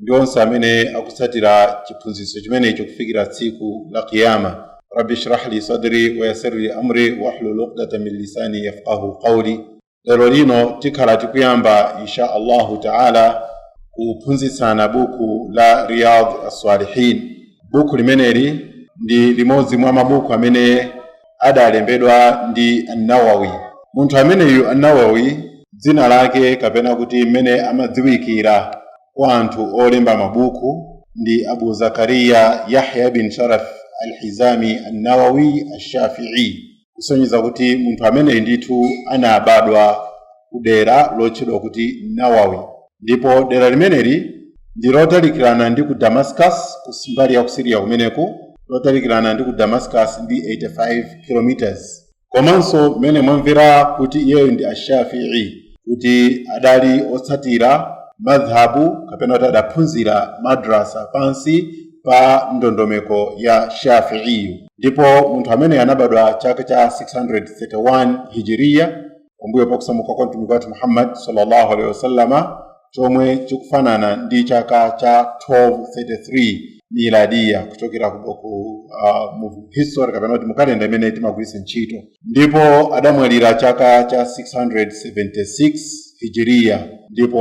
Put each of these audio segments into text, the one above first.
ndi onse amene akutsatira chiphunzitso chimenecho kufikira tsiku la kiyama rabbi shrah li sadri wayasir li amri wahlul uqdatan min lisani yafqahu qawli lero lino tikhala tikuyamba insha allahu taala kuphunzitsana buku la riyad assalihin buku limeneli ndi limodzi mwa mabuku amene adalembedwa ndi an-Nawawi. Munthu ameneyu an-Nawawi dzina lake kapena kuti mmene amadziwikira kwa anthu olemba mabuku ndi Abu Zakariya Yahya bin Sharaf al-Hizami an-Nawawi ash-Shafi'i, kusonyeza kuti munthu ameneyu ndithu anabadwa kudera lotchedwa kuti Nawawi. ndipo dera limeneli ndi lotalikirana ndi ku damascus ku mbali ya ku siriya kumeneku lotalikirana ndi ku damascus ndi 85 kilometers komanso mmene mwamvera kuti iyeyo ndi ashafii kuti adali otsatira madhhabu kapena kuti adaphunzira madrasa pansi pa ndondomeko ya shafiiyu ndipo munthu ameneyu anabadwa chaka cha 631 hijiriya kumbuyo pa kusamuka kwa mtumiki wathu muhammad sallallahu alaihi wasallama chomwe chikufanana ndi chaka cha 1233 miladiya kuchokera ku mu history kapena kuti mu kalenda imene timagwiritsa ntchito ndipo adamwalira chaka cha 676 hijiriya ndipo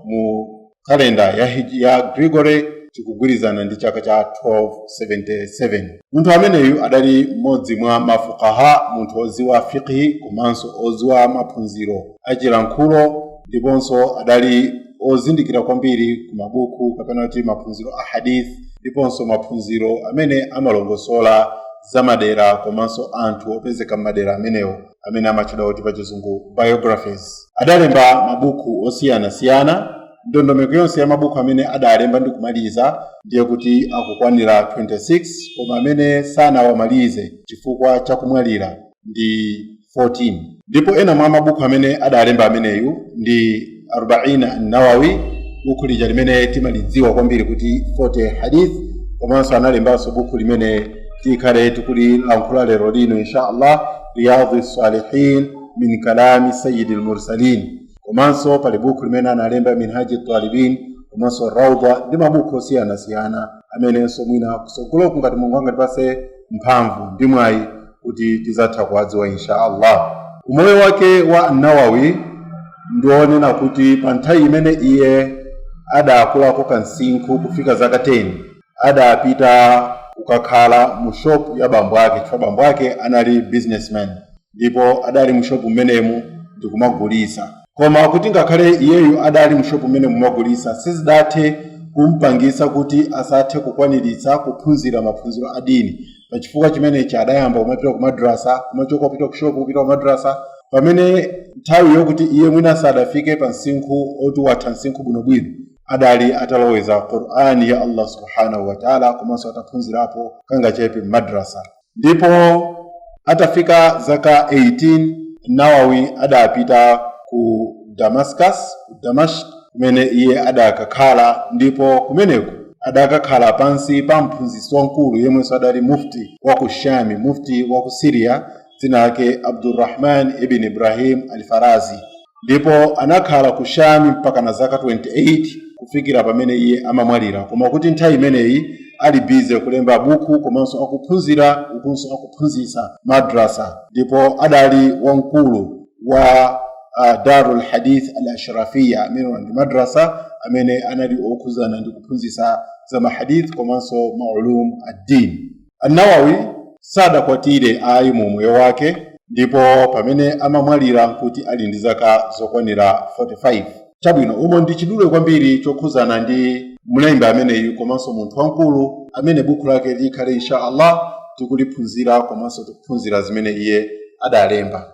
mu kalenda ya Gregory chikugwirizana ndi chaka cha 1277. Munthu ameneyu adali mmodzi mwa ma Fuqaha, munthu odziwa Fiqhi komanso odziwa maphunziro a chilankhulo ndiponso adali ozindikira kwambiri ku mabuku kapena kuti maphunziro a Hadith ndiponso maphunziro amene amalongosola za madera komanso anthu opezeka m'madera amenewo. amene amatchedwa kuti pachizungu biographies adalemba mabuku osiyanasiyana ndondomeko yonse ya mabuku amene adalemba ndi kumaliza ndiye kuti akukwanira 26 koma amene sanawamalize chifukwa cha kumwalira ndi 14 ndipo ena mwa mabuku amene adalemba ameneyu ndi arbaina nawawi buku lija limene timalidziwa kwambiri kuti 40 hadith komanso analembanso buku limene tikhale tikulilankhula lero lino insha allah riyadhi salihin min kalami sayidi lmursalin komanso pali buku limene analemba minhaji talibin komanso raudha ndi mabuku osiyanasiyana amenenso mwina kusogoloku ngati mulungu angatipase mphamvu ndi mwayi kuti tizatha kuwadziwa insha allah umoyo wake wa nawawi ndi wonena kuti pa nthawi imene iye adakulako kamsinkhu kufika zaka 10 adapita kukakhala mu shopu ya bambo ake chifukwa bambo ake anali businessman ndipo adali mu shopu mmenemu ndikumagulisa koma kuti ngakhale iyeyu adali mu shopu mmenemu kumagulisa sizidathe kumpangisa kuti asathe kukwaniritsa kuphunzira maphunziro a dini pa chifukwa chimenechi adayamba kumapita ku madrasa kumachoka ku shopu kupita ku madrasa pamene nthawi yokuti iye mwina sadafike pa msinkhu oti watha msinkhu bwinobwino adali ataloweza qur'ani ya allah subhanahu wa taala komanso ataphunzirapo kangachepe m'madrasa ndipo atafika zaka 18 nawawi adapita ku damascus ku damashq kumene iye adakakhala ndipo kumeneko adakakhala pansi pa mphunzitsi wamkulu yemwenso adali mufti wa ku shami mufti wa ku syria dzina lake abdurrahman ibn ibrahim al farazi ndipo anakhala ku shami mpaka na zaka 28 kufikira pamene iye amamwalira koma kuti nthawi imeneyi ali bize kulemba buku komanso akuphunzira ukunso akuphunzitsa madrasa ndipo adali wamkulu wa uh, darul hadith al ashrafiya amenewa ndi madrasa amene anali okhudzana ndi kuphunzitsa za mahadith komanso maulum addin annawawi sadakwatire ayi mu umoyo wake ndipo pamene amamwalira nkuti ali ndi zaka zokwanira 45 chabwino umo ndi chidule kwambiri chokhudzana ndi mlembi ameneyu komanso munthu wamkulu amene buku lake tikhale insha allah tikuliphunzira komanso tikuphunzira zimene iye adalemba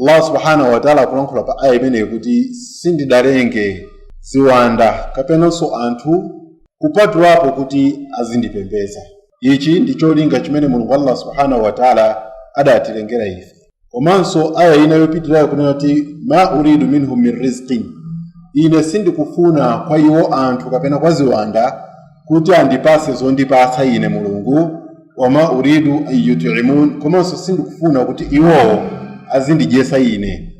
allah subhanahu wataala akulankhula pa aya imeneyi kuti sindidalenge ziwanda kapenanso anthu kupatulapo kuti azindipembeza ichi ndi cholinga chimene mulungu allah subhanahu wataala adatilengera ife komanso aya ina yopitirayo kunena kuti ma uridu minhum min rizqin ine sindikufuna kwa iwo anthu kapena kwa ziwanda kuti andipase zondipatsa ine mulungu wama uridu an yutimun komanso sindikufuna kuti iwowo azindidyesa ine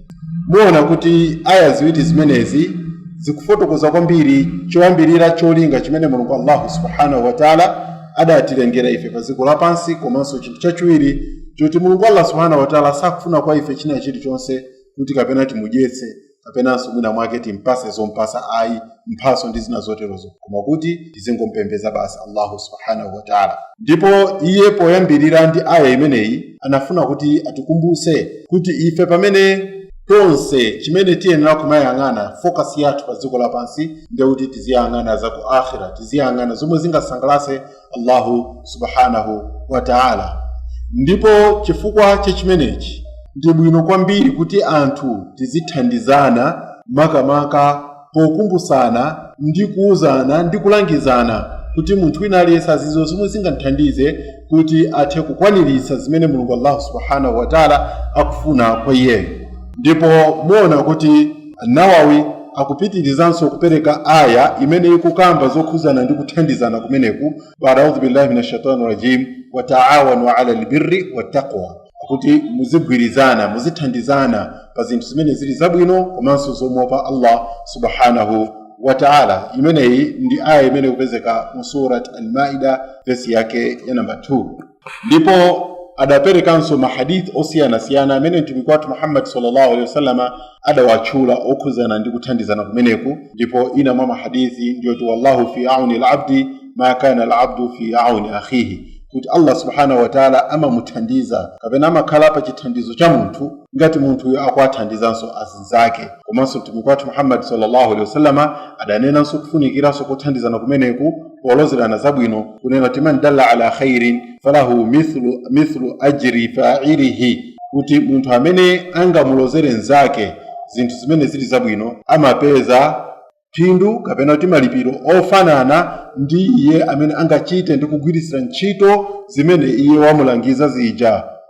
muona kuti aya ziwiri zimenezi zikufotokoza kwambiri choyambirira cholinga chimene mulungu allahu subhanahu wataala adatilengera ife pa dziko lapansi komanso chinthu chachiwiri choti mulungu allah subhanahu wataala sakufuna kwa ife china chilichonse kuti kapena timudyetse kapenanso mwina mwake timpase zompasa ayi mphaso ndi zina zoterozo koma kuti tizingompembeza basi allahu subhanahu wataala ndipo iye poyambirira ndi aya imeneyi anafuna kuti atikumbuse kuti ife pamene tonse chimene tiyenera kumayang'ana focus yathu pa dziko lapansi ndiye kuti tiziyang'ana za ku akhira tiziyang'ana zomwe zingasangalase allahu subhanahu wa taala ndipo chifukwa cha chimenechi ndi bwino kwambiri kuti anthu tizithandizana makamaka pokumbutsana ndi kuwuzana ndi kulangizana kuti munthu wina aliyense adziwe zomwe zingamthandize kuti athe kukwaniritsa zimene mulungu allahu subhanahu wataala akufuna kwa iyeyo ndipo muona kuti Nawawi akupitirizanso kupereka Aayah imene ikukamba zokhudzana ndi kuthandizana kumeneku, Ba'd audhu billahi mina shaitani rajim, Wa ta'awanu 'ala al-birri wat-taqwa, kuti muzigwirizana, muzithandizana pa zinthu zimene zili zabwino komanso zomuopa Allah Subhaanahu wa Ta'ala. Imeneyi ndi Aayah imene ikupezeka mu Surat Al-Ma'idah, vesi yake ya namba 2. ndipo adaperekanso mahadith osiyanasiyana amene mtumiki wathu muhammadi sallallahu alaihi wasallama adawatchula okhudzana ndi kuthandizana kumeneku ndipo ina mwa mahadithi ndiyoti wallahu fi auni labdi ma kana labdu fi auni akhihi kuti allah subhanahu wataala amamuthandiza kapena amakhala pa chithandizo cha munthu ngati munthuyo akuwathandizanso azinzake komanso mtumiki wathu muhammadi sallallahu alaihi wasallama adanenanso kufunikiranso kothandizana kumeneku polozerana zabwino kunena kuti man dalla ala khairin falahu mithlu ajri failihi kuti munthu amene angamulozere mnzake zinthu zimene zili zabwino amapeza phindu kapena kuti malipiro ofanana ndi iye amene angachite ndi kugwiritsira ntchito zimene iye wamulangiza zija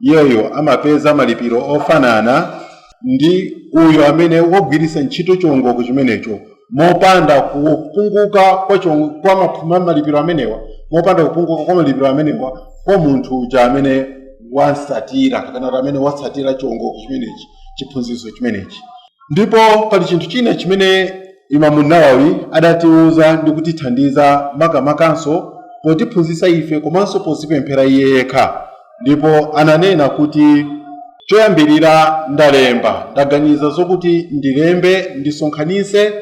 iyeyo amapeza malipiro ofanana ndi uyo amene wagwiritsa ntchito chiwongoko chimenecho mopanda kupunguka kwa chiwong- kwa maphu- ma- malipiro amenewa mopanda kupunguka kwa malipiro amenewa kwa munthu uja amene wamtsatira kapena kuti amene watsatira chiwongoko chimenechi chiphunzitso chimenechi Ndipo pali chinthu china chimene Imamu Nawawi adatiuza ndi kutithandiza makamakanso potiphunzitsa ife komanso podzipemphera iye yekha ndipo ananena kuti choyambirira ndalemba ndaganiza zokuti ndilembe ndisonkhanitse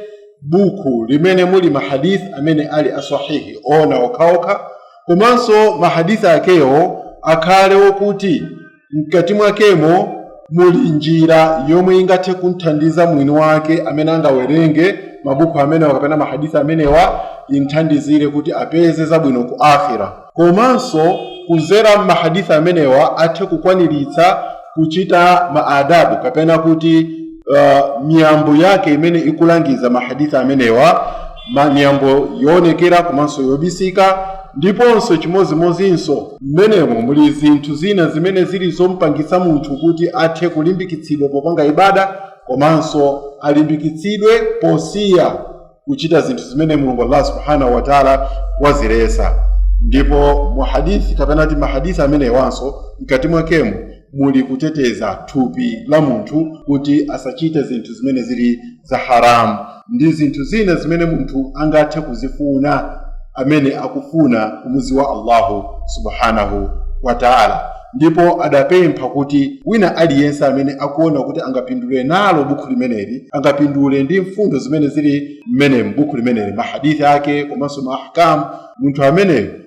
buku limene muli mahadith amene ali aswahihi oona okhaokha komanso mahadith akewo akhale okuti mkati mwakemo muli njira yomwe ingathe kumthandiza mwini wake amene angawerenge mabuku amenewa kapena mahadisi amenewa imthandizire kuti apeze zabwino ku akhira komanso kudzera m'mahadisi amenewa athe kukwaniritsa kuchita maadabu kapena kuti uh, miyambo yake imene ikulangiza mahadisi amenewa ma- miyambo yoonekera komanso yobisika ndiponso chimodzimodzinso mmenemo muli zinthu zina zimene zili zompangitsa munthu kuti athe kulimbikitsidwa popanga ibada komanso alimbikitsidwe posiya kuchita zinthu zimene mulungu allah subhanahu wataala waziletsa ndipo mu hadithi kapena kuti mahadithi amenewanso mkati mwakemo muli kuteteza thupi la munthu kuti asachite zinthu zimene zili za haramu ndi zinthu zina zimene munthu angathe kuzifuna amene akufuna kumudziwa allahu subhanahu wa taala ndipo adapempha kuti wina aliyense amene akuona kuti angapindule nalo bukhu limeneli angapindule ndi mfundo zimene zili m'bukhu limeneli mahadithi ake komanso maahkamu munthu ameneyo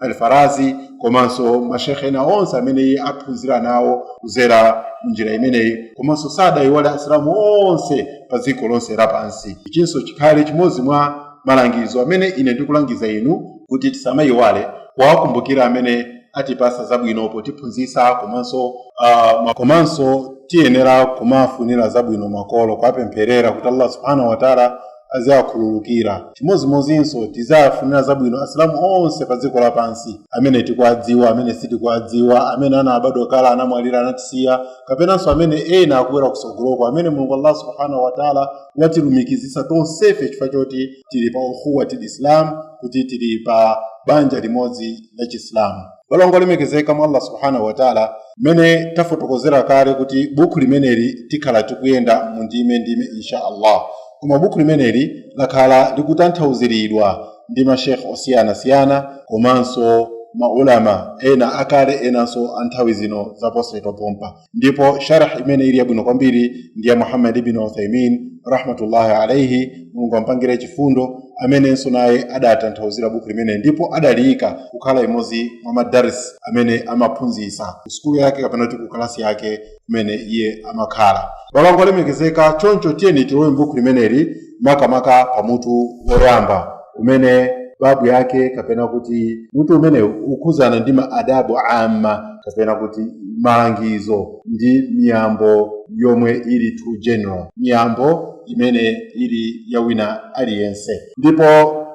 alfarazi komanso mashekhe ena onse amene iye aphunzira nawo kudzera munjira imeneyi komanso sadayiwale asilamu onse pa dziko lonse lapansi ichinso chikhale chimodzi mwa malangizo amene ine ndikulangiza inu kuti tisamayiwale kuwakumbukira amene atipatsa zabwino potiphunzitsa komanso uh, ma- komanso tiyenera kumafunira zabwino makolo kuwapempherera kuti allah subhanahu wataala aziwakhululukira chimodzimodzinso tiziwafunira zabwino asilamu onse pa dziko lapansi amene tikuwadziwa amene sitikuwadziwa amene anabadwa kale anamwalira anatisiya kapenanso amene ena akubwera kutsogoloko amene mulungu allah subhanahu wataala watilumikizitsa tonsefe chifukwa choti tili pa ukhuwatil islam kuti tili pa banja limodzi la chisilamu balongo olemekezeka mwa allah subhanahu wataala mmene tafotokozera kale kuti bukhu limeneli tikhala tikuyenda mu ndime ndime insha allah koma bukhu limeneli lakhala likutanthauziridwa ndi mashekhe osiyanasiyana komanso maulama ena akale enanso a nthawi zino zaposachedwa pompa ndipo sharh imene ili yabwino kwambiri ndi ya muhammad ibn uthaymin rahmatullahi alaihi mulungu ampangire chifundo amenenso naye adatanthauzira bukhu limeneli ndipo adaliyika kukhala imodzi mwa madaris amene amaphunzitsa ku sukulu yake kapena kuti ku kalasi yake kumene iye amakhala balongo olemekezeka choncho tiyeni tilowe m'bukhu limeneli makamaka pa mutu woyamba umene babu yake kapena kuti mutu umene ukukhudzana ndi ma adabu amma kapena kuti malangizo ndi miyambo yomwe ili too general miyambo imene ili ya wina aliyense ndipo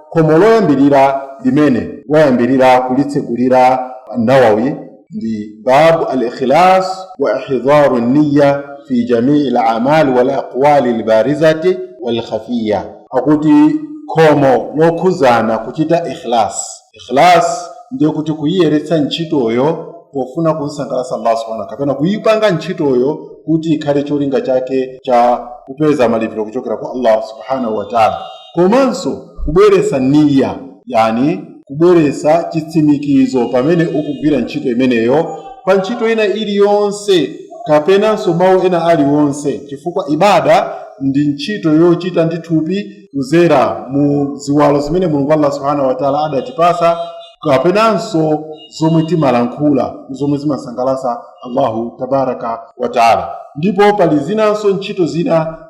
khomo loyambirira limene wayambirira kulitsegulira nawawi ndi babu al-ikhlas wa ihdharu niyya fi jamii al-a'mal wal aqwali al-barizati wal khafiyya akuti khomo lokhuzana kuchita ikhlas ikhlas ndiye kuti kuyiyeretsa ntchitoyo pofuna kumsangalatsa Allah subhanahu kapena kuyipanga ntchitoyo kuti ikhale cholinga chake cha kupeza malipiro kuchokera kwa Allah subhanahu wa ta'ala komanso kubweretsa niyya yani kubweretsa chitsimikizo pamene ukugwira ntchito imeneyo pa ntchito ina iliyonse kapenanso mawu ena aliwonse chifukwa ibada ndi ntchito yochita ndi thupi kuzera mu ziwalo zimene mulungu allah subhanahu wataala adatipasa kapenanso zomwe timalankhula zomwe zimasangalasa allahu tabaraka wataala ndipo pali zinanso ntchito zina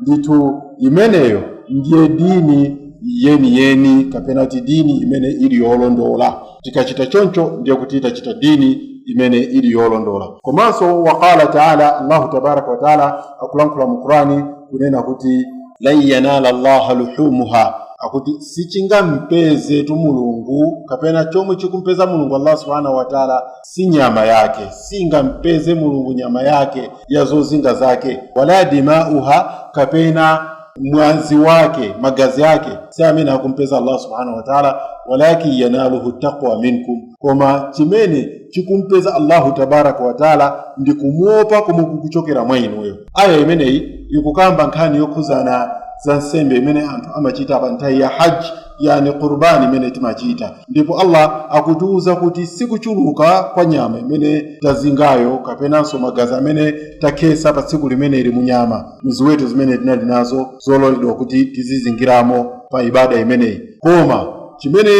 ndithu imeneyo ndiye dini yeniyeni kapena kuti dini imene ili yolondola tikachita choncho ndiye kuti tachita dini imene ili yolondola komanso waqala taala allahu tabaraka wataala akulankhula mu qurani kunena kuti lan yanala llaha luhumuha akuti sichingampezetu mulungu kapena chomwe chikumpeza mulungu allah subhanahu wataala si nyama yake singampeze mulungu nyama yake ya zozinga zake wala dimauha kapena mwazi wake magazi ake si amene akumpeza allah subhanahu wa taala walakin yanaluhu taqwa minkum koma chimene chikumpeza allahu tabaraka wa taala ndi kumuopa komwe kukuchokera mwa inuyo aya imeneyi ikukamba nkhani yokhuzana za nsembe imene anthu amachita pa nthawi ya haji yani qurbani imene timachita ndipo allah akutiwuza kuti sikuchuluka kwa nyama imene tazingayo kapenanso magazi amene takhesa pa tsiku limeneli mu nyama mziweto zimene tinali nazo zololedwa kuti tizizingiramo pa ibada imeneyi koma chimene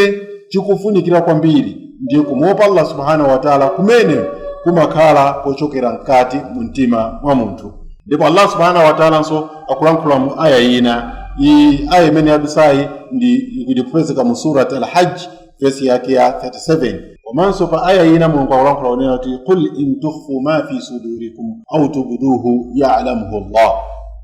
chikufunikira kwambiri ndiye kumuopa allah subhanahu wataala kumene kumakhala kochokera mkati mu mtima mwa munthu ndipo allah subhanahu wataalanso akulankhula mu aya ina iyi aya imene yadusayi ikupezeka mu surat alhajj vesi yake ya 37 komanso pa aya ina mulungu akulankhula kunena kuti qul in tukhfu ma fi sudurikum au tubduhu yalamuhu llah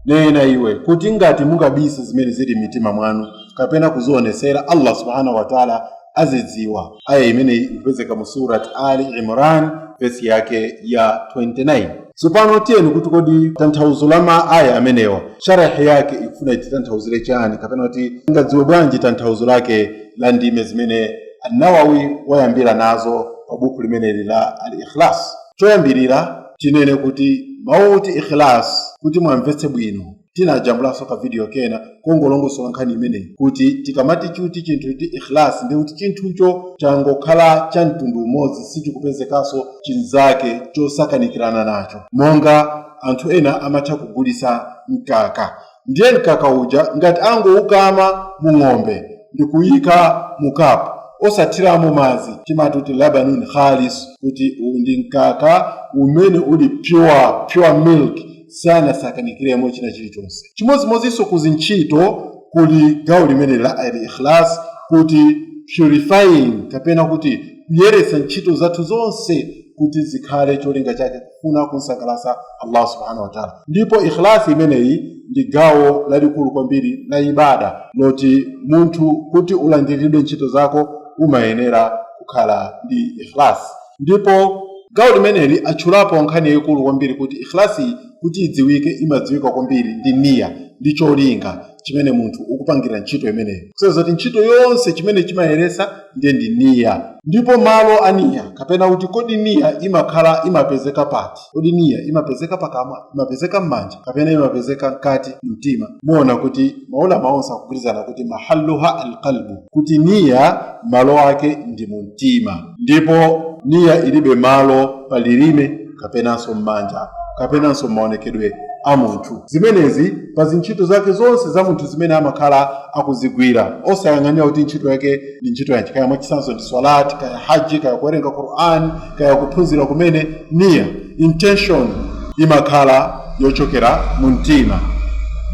nena iwe kuti ngati mungabisa zimene zili m'mitima mwanu kapena kuzionesera allah subhanahu wataala azidziwa. Aya imeneyi ikupezeka mu Surat Ali Imran vesi yake ya 29. Tsopano tione kuti kodi tanthauzo la ma aya amenewa sharahi yake ikufuna ititanthauzire chani kapena kuti tingadziwe bwanji tanthauzo lake la ndime zimene An-Nawawi wayambira nazo pa buku limeneli la Al-Ikhlas. Choyambirira tinene kuti mawu oti ikhlas kuti mwamvetse bwino tinajambulanso ka video kena kongolongosola nkhani imeneyi kuti tikamati kuti chinthu kuti ikhlas ndi kuti chinthucho changokhala cha mtundu umodzi sichikupezekanso chinzake chosakanikirana nacho monga anthu ena amatha kugulisa mkaka ndiye mkaka uja ngati angoukama mu ng'ombe ndikuyika mu kapu osathiramo madzi timati kuti labanun khalis kuti uwu ndi mkaka umene uli pure pure milk sanasakanikiremo china chilichonse chimodzimodzinso ku zintchito kuli gawo limeneli la al ikhlas kuti purifying kapena kuti kuyeretsa ntchito zathu zonse kuti zikhale cholinga chake kufuna kumsangalatsa allah subhanahu wa taala ndipo ikhlasi imeneyi ndi gawo lalikulu kwambiri la ibada loti munthu kuti ulandiridwe ntchito zako umayenera kukhala ndi ikhlasi Ndipo gawo limeneli atchulapo nkhani yaikulu kwambiri kuti ikhlasiyi kuti idziwike imadziwika kwambiri ndi niyyah ndi cholinga chimene munthu ukupangira ntchito imeneyo. Kusonyeza kuti ntchito yonse chimene chimayeretsa ndiye ndi niyyah. Ndipo malo a niyyah kapena kuti kodi niyyah imakhala, imapezeka pati? kodi niya imapezeka pakamwa imapezeka m'manja kapena imapezeka mkati mwa mtima muona kuti maulama onse akugwirizana kuti mahalluha alqalbu kuti niya malo ake ndi mu mtima ndipo niya ilibe malo pa lilime kapenanso m'manja kapenanso maonekedwe a munthu zimenezi pa zintchito zake zonse za munthu zimene amakhala akuzigwira osayang'anira kuti ntchito yake ndi ntchito yanji kaya mwachitsanzo ndi swalati kaya haji kaya kuwerenga qur'an kaya kuphunzira kumene niya, intention, imakhala yochokera mu mtima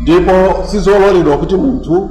ndipo sizololedwa kuti munthu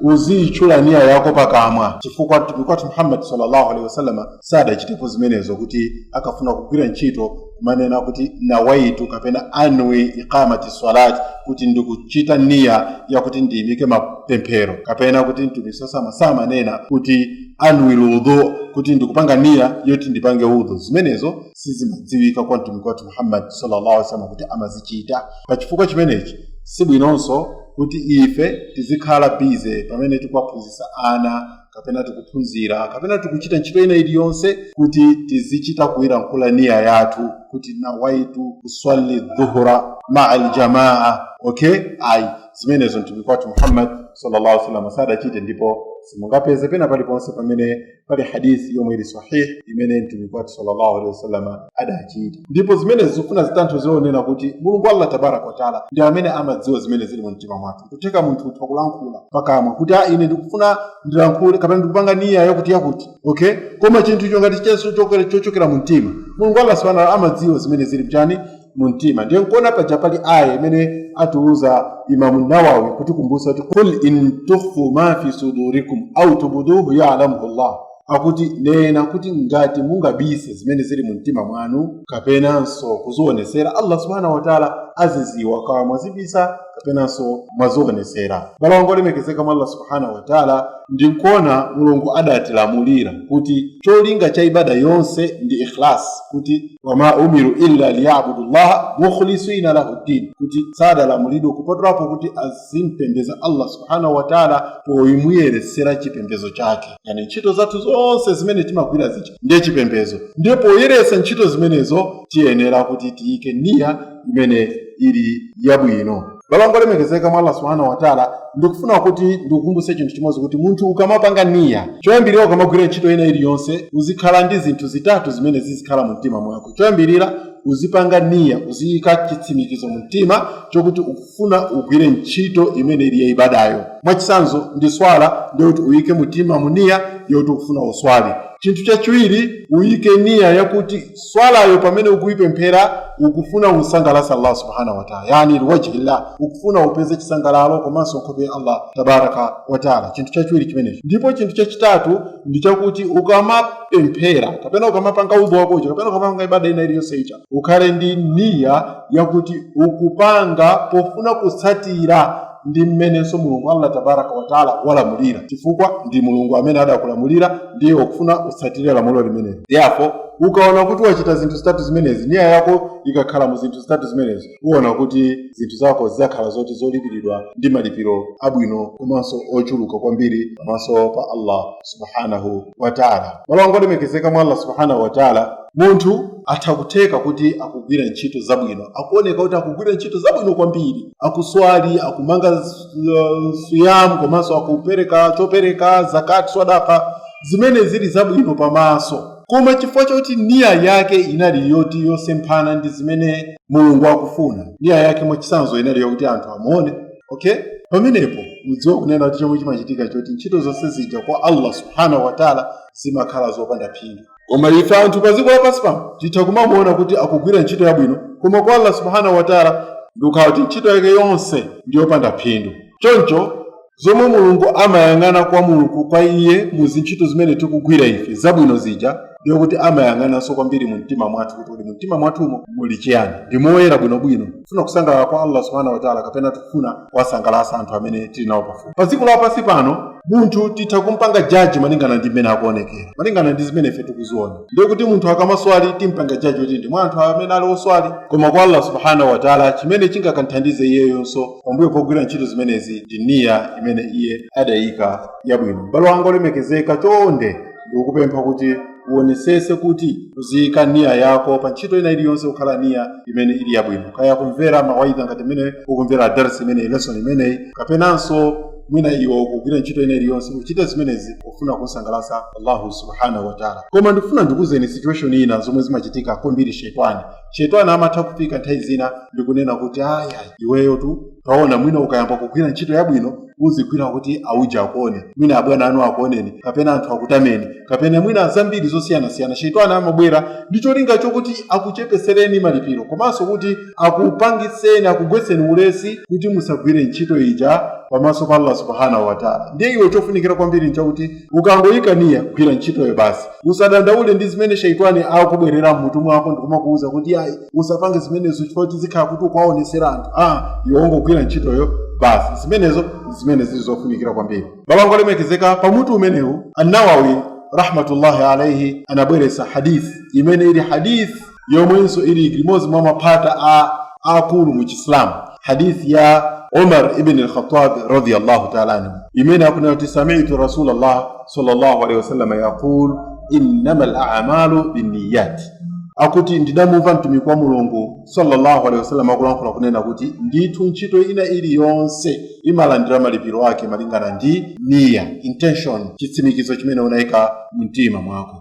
uziyitchula niya yako pakamwa chifukwa mtumiki muhammad sallallahu alaihi wasallam sadachitepo zimenezo kuti akafuna kugwira ntchito kumanena kuti nawaitu kapena anwi iqamati salat kuti ndikuchita niya yakuti ndiyimike mapemphero kapena kuti mtumiki samanena samanena kuti anwi lwudhu kuti ndikupanga niya yoti ndipange udhu zimenezo sizimadziwika kwa mtumiki wathu muhammad sallallahu alaihi wasallam kuti amazichita pa chifukwa chimenechi sibwinonso kuti ife tizikhala bize pamene tikuwaphunzitsa ana kapena tikuphunzira kapena tikuchita ntchito ina iliyonse kuti tizichita kuyilankhula niya yathu kuti nawaitu usalli dhuhura maa aljamaa okay ayi zimenezo mtumiki wathu muhammad sallallahu alaihi wasallam sadachite ndipo simungapeze pena paliponse pamene pali hadithi yomwe ili sahihi imene mtumiki wathu sallallahu alaihi wasallam adachita ndipo zimenezi zikufuna zinthu zoonena kuti mulungu allah tabaraka wataala ndi amene amadziwa zimene zili mu mtima mwathu kutheka munthu utha kulankhula pakamwa kuti a ine ndikufuna ndilankhule kapena ndikupanga niya yakuti yakuti okay koma chinthucho ngati chili chochokera mu mtima mulungu allah subhanahu amadziwa zimene zili mchani mu mtima ndiye nkuona paja pali aya imene atiuza imamu nawawi kutikumbutsa kuti kul in tukhfu ma fi sudurikum au tubuduhu yalamuhu llah akuti nena kuti ngati mungabise zimene zili mu mtima mwanu kapenanso kuzionesera allah subhanahu wataala aziziwa kawa mwazibisa kapenanso mwazionesera abale anga olemekezeka mwa allah subhanahu wataala ndi nkuona mulungu adatilamulira kuti cholinga cha ibada yonse ndi ikhlas kuti wama umiru illa liyabudu llaha mukhlisina lahu ddin kuti sadalamulidwe kupatulapo kuti azimpembeza allah subhanahu wataala pomuyeretsera chipembezo chake yani ntchito zathu zonse zimene timagwira zicha ndiye chipembezo ndiye poyeretsa ntchito zimenezo tiyenera kuti tiyike niya imene ili yabwino abale anga olemekezeka mwa allah subhanahu wataala ndikufuna kuti ndikukumbutse chinthu chimodzi kuti munthu ukamapanga niya choyambirira ukamagwira ntchito ina iliyonse uzikhala ndi zinthu zitatu zimene zizikhala mu mtima mwako choyambirira uzipanga niya uziyika chitsimikizo mu mtima chokuti ukufuna ugwire ntchito imene ili ya ibadayo mwachitsanzo ndi swala ndiyoti uyike mtima mu niya yoti ukufuna uswali chinthu chachiwiri uyike niya yakuti swalayo pamene ukuipemphera ukufuna umsangalatse allah subhanahu wataala yani liwajihillah ukufuna upeze chisangalalo komanso nkhope ya allah tabaraka wataala chinthu chachiwiri chimenecho ndipo chinthu chachitatu ndi chakuti ukamapemphera kapena ukamapanga udhu wakocho kapena ukamapanga ibada ina iliyonse ija ukhale ndi niya yakuti ukupanga pofuna kutsatira ndi mmenenso mulungu allah tabaraka wataala walamulira chifukwa ndi mulungu amene adakulamulira ndiye ukufuna utsatire lamulo limeneli therefore ukaona kuti wachita zinthu zitatu zimenezi niya yako ikakhala mu zinthu zitatu zimenezi uona kuti zinthu zako zidzakhala zoti zolipiridwa ndi malipiro abwino komanso ochuluka kwambiri pamaso pa allah subhanahu wataala abale anga olemekezeka mwa allah subhanahu wataala munthu atha kutheka kuti akugwira ntchito zabwino akuoneka kuti akugwira ntchito zabwino kwambiri akuswali akumanga uh, siyam komanso akupereka chopereka zakat swadaka zimene zili zabwino pamaso koma chifukwa choti niya yake inali yoti yosemphana ndi zimene mulungu akufuna niya yake mwachitsanzo inali yokuti anthu amuone okay pamenepo mudziwa kunena kuti chomwe chimachitika choti ntchito zonse zija kwa allah subhanahu wataala zimakhala zopanda phindu koma ife anthu pa dziko lapansi pano titha kumamuona kuti akugwira ntchito yabwino koma kwa allah subhanahu wataala ndikukhala kuti ntchito yake yonse ndi yopanda phindu choncho zomwe mulungu amayang'ana kwa mulungu kwa iye mu zintchito zimene tikugwira ife zabwino zija ndiye kuti amayang'ananso kwambiri mu mtima mwathu kuti kodi mu mtima mwathumo muli chiyani ndi moyera bwinobwino kufuna kusangalala kwa allah subhanahu wataala kapena tikufuna kuwasangalatsa anthu amene tili nawo pafupi pa dziko lapansi pano munthu titha kumpanga jaji malingana ndi mmene akuonekera malingana ndi zimene ife tikuziona ndiye kuti munthu akamaswali timpanga jaji kuti ndi mwa anthu amene ali oswali koma kwa allah subhanahu wataala chimene chingakamthandize iyeyonso pambuyo pogwira ntchito zimenezi ndi niya imene iye adayika yabwino m'bale wanga wolemekezeka chonde ndikukupempha kuti uonesese kuti uziyika niya yako pa ntchito ina iliyonse kukhala niya imene ili yabwino kaya kumvera mawaidha ngati mmene ukumvera darsi imeneyi lesson imeneyi kapenanso mwina iwe kugwira ntchito ina iliyonse uchite zimenezi kufuna kusangalatsa allahu subhanahu wataala koma ndikufuna ndikuuzeni situation ina zomwe zimachitika kwambiri shetani shetani amatha kufika nthawi zina ndikunena kuti aya iweyotu taona mwina ukayamba kugwira ntchito yabwino uzigwira kuti auja akuone mwina abwana anu akuoneni kapena anthu akutameni kapena mwina zambiri zosiyanasiyana shetani amabwera ndi cholinga chokuti akuchepesereni malipiro komanso kuti akupangitseni akugwetseni ulesi kuti musagwire ntchito ija pamaso pa allah subhanahu wataala ndiye iwe chofunikira kwambiri nchakuti ukangoyika niya gwira ntchitoyo basi usadandaule ndi zimene shaitani akubwerera mmutu mwako ndikumakuwuza kuti ayi usapange zimenezo chifukwa zikhala kuti ukuwaonetsera anthu a iwe ungogwira ntchitoyo basi zimenezo ndi zimene zili zofunikira kwambiri m'bale wanga olemekezeka pa mutu umenewu annawawi rahmatullahi alaihi anabweretsa hadith imene ili hadith yomwenso ili limodzi mwa maphata akulu mu chisilamu hadithi ya umar ibn al-khattab radiyallahu ta'ala anhu imene akunena kuti sami'tu rasulallah sallallahu alaihi wasallam yaqul innama al-a'malu binniyat akuti ndidamumva mtumiki wa mulungu sallallahu alaihi wasallam akulankhula kunena kuti ndithu ntchito ina iliyonse imalandira malipiro ake malingana ndi niya intention chitsimikizo chimene unayika mmtima mwako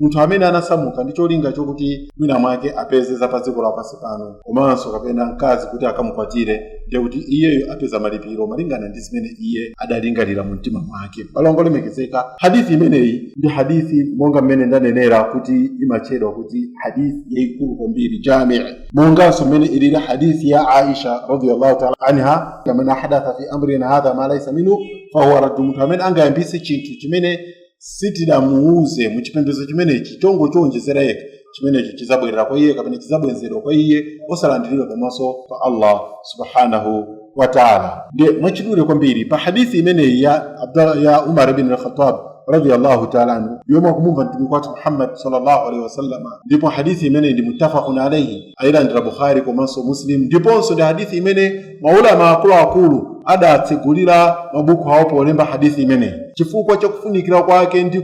munthu amene anasamuka ndi cholinga chokuti mwina mwake apeze za pa dziko lapansi pano komanso kapena mkazi kuti akamukwatire ndiye kuti iyeyo apeza malipiro malingana ndi zimene iye adalingalira mu mtima mwake m'bale wanga olemekezeka hadithi imeneyi ndi hadithi monga mmene ndanenera kuti imatchedwa kuti hadithi yayikulu kwambiri jamii monganso mmene ilili hadithi ya aisha radiyallahu taala anha man ahdatha fi amrina hadha ma laisa minhu fahuwa raddu munthu amene angayambise chinthu chimene sitidamuuze mu chipembedzo chimenechi chongochiwonjezera yekha chimenechi chidzabwerera kwa iye kapena chidzabwenzedwa kwa iye osalandiridwa pamaso pa allah subhanahu wa taala ndiye mwachidule kwambiri pa hadithi imeneyi ya umar bin al-khattab radiyallahu taala anhu yomwe akumumva mtumiki wathu muhammad sallallahu alaihi wasallama ndipo hadithi imeneyi ndi muttafaqun alaihi ayilandira bukhari komanso muslim ndiponso ndi hadithi imene maulama akuluakulu adatsegulira mabuku awo polemba hadithi imeneyi chifukwa chakufunikira kwake ndi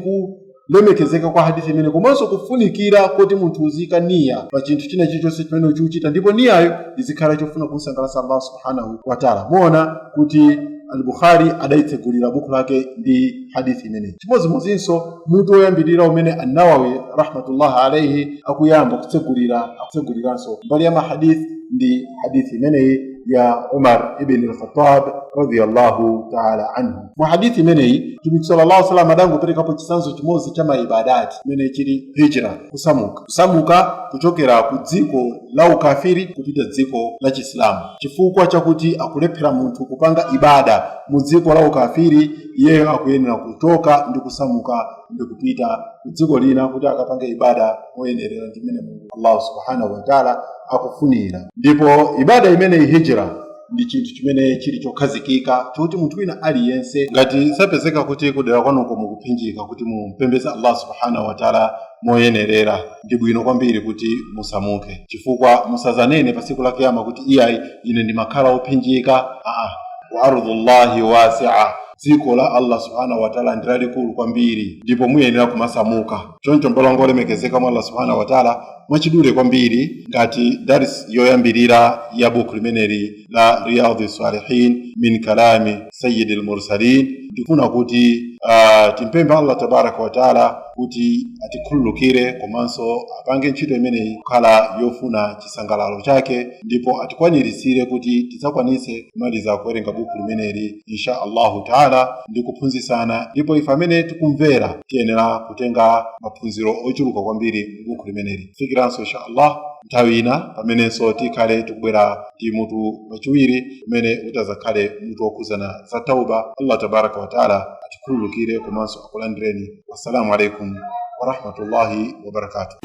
kulemekezeka kwa hadithi imeneyi komanso kufunikira kuti munthu uzika niya pa chinthu china chilichonse chimene ukuchita ndipo niyayo izikhala chofuna kumsangalatsa allah subhanahu wataala muona kuti al-bukhari adaitsegulira buku lake ndi hadithi imeneyi chimodzimodzinso mutu woyambirira umene annawawi rahmatullahi alaihi akuyamba kutsegulira akutseguliranso mbali ya mahadithi ndi hadithi imeneyi ya umar ibn al-khattab radiyallahu ta'ala anhu mu hadithi imeneyi mtumiki sallallahu alaihi wasallam adangoperekapo chitsanzo chimodzi cha maibadati imene chili hijra kusamuka kusamuka kuchokera ku dziko la ukafiri kupita dziko la chisilamu chifukwa chakuti akulephera munthu kupanga ibada mu dziko la ukafiri iyeyo akuyenera kuchoka ndi kusamuka ndi kupita ku dziko lina kuti akapange ibada moyenerera ndi mmene mulungu allahu subhanahu wataala akufunira ndipo ibada imeneyi hijira ndi chinthu chimene chili chokhazikika choti munthu wina aliyense ngati zapezeka kuti kudera kwanuko mukuphinjika kuti mumpembeze allah subhanahu wataala moyenerera ndi bwino kwambiri kuti musamuke chifukwa musazanene pa tsiku la kiyama kuti iyayi ine ndimakhala ophinjika aa wa ardhullahi wasia dziko la allah subhanahu wataala ndi lalikulu kwambiri ndipo muyenera kumasamuka choncho mbale wanga olemekezeka mwa allah subhanahu wataala mwachidule kwambiri ngati daris yoyambirira ya buku limeneli la riyadhi salihin min kalami sayidi lmursalin ndifuna kuti uh, timpemphe allah tabaraka wataala kuti atikhululukire komanso apange ntchito imeneyi kukhala yofuna chisangalalo chake ndipo atikwaniritsire kuti tidzakwanitse kumaliza kuwerenga buku limeneli insha allahu taala ndi kuphunzitsana ndipo ife amene tikumvera tiyenera kutenga maphunziro ochuluka kwambiri mu buku limeneli fikiranso insha allah nthawi ina pamenenso tikhale tikubwera ndi mutu wachiwiri umene utazakhale mutu wokhudzana za tauba allah tabaraka wataala atikhululukire komanso akulandireni Assalamu alaikum warahmatullahi wabarakatuh.